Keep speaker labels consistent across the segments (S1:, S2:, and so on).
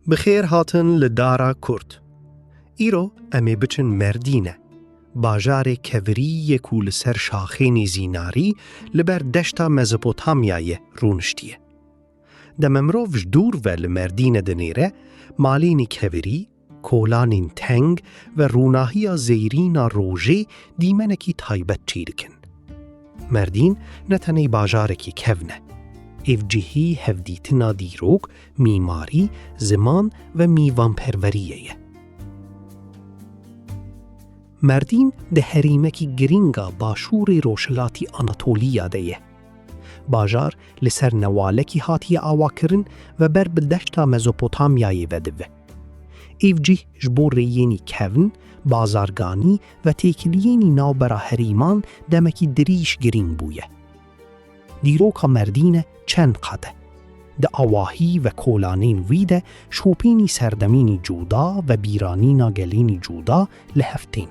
S1: Bi xêr hatin li Dara Kurd. Îro em ê biçin Merdîne, bajarê kevirî yê ku li ser şaxênî zînarî li ber deşta Mezopotamyayê rûniştiye. Deme mirov ji dûr ve li Merdîne dinêre, malênî kevirî, Kolanên teng ve rûnahiya zêrîn a rojê dîmenekî taybet çêdikin. Merdîn ne tenê bajarekî kevn e. Ev cihî hevdîtina dîrok, mîmarî, ziman ve mîvanperweriyê ye. Merdîn di herêmekî girîng a Başûrê Rojhilatî Anatoliya de ye. Bajar li ser newalekî hatiye awakirin ve ber bi deşta Mezopotamyayê ve dive. Ev cih ji bo rêyênî kevn, bazarganî ve têkiliyênî navbera herêman demekî dirîj girîng bûye. Dîroka Merdîne çend qat e. Di awahî ve kolanên wî de şopênî serdemînî cuda ve bîranîna gelênî cuda li hev tên.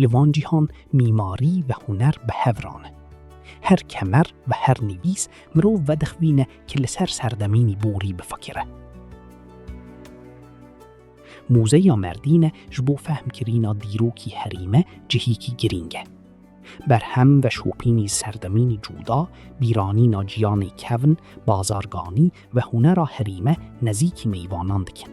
S1: Li van cîhan mîmarî ve huner bi hev rane. Her kemer ve her nivîs mirov vedixvîne ki li ser serdemînî borî bifekire. Muzeya Merdîne ji bo fehmkirîna dîrokî herî me cihîkî girîng e. Berhem veşopînî serdemînî cuda, bîranîna ciyanê kevn, bazarganî ve hunera herî me nezîkî mêvanan dikin.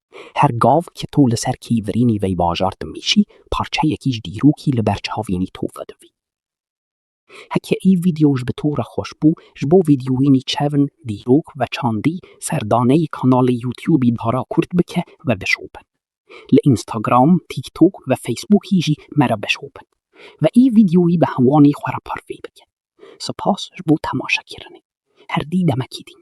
S1: Her gav ke to li ser kî virînî vey bajar dimîşî, parçeyekî ji dîrokî li ber çavînî to vedivî. Heke î vîdeo ji bi to re xweş bû, ji bo vîdeoyînî çevn, dîrok ve çandî, serdaneyî kanalê Youtubî Dara Kurd bike ve bişo bin. Li Instagram, TikTok ve Facebookî jî me re bişo bin. Ve î vîdeoyî bi hewanî xwe re parvê bike. Sipas ji bo temaşekirinê. Herdî demekî din.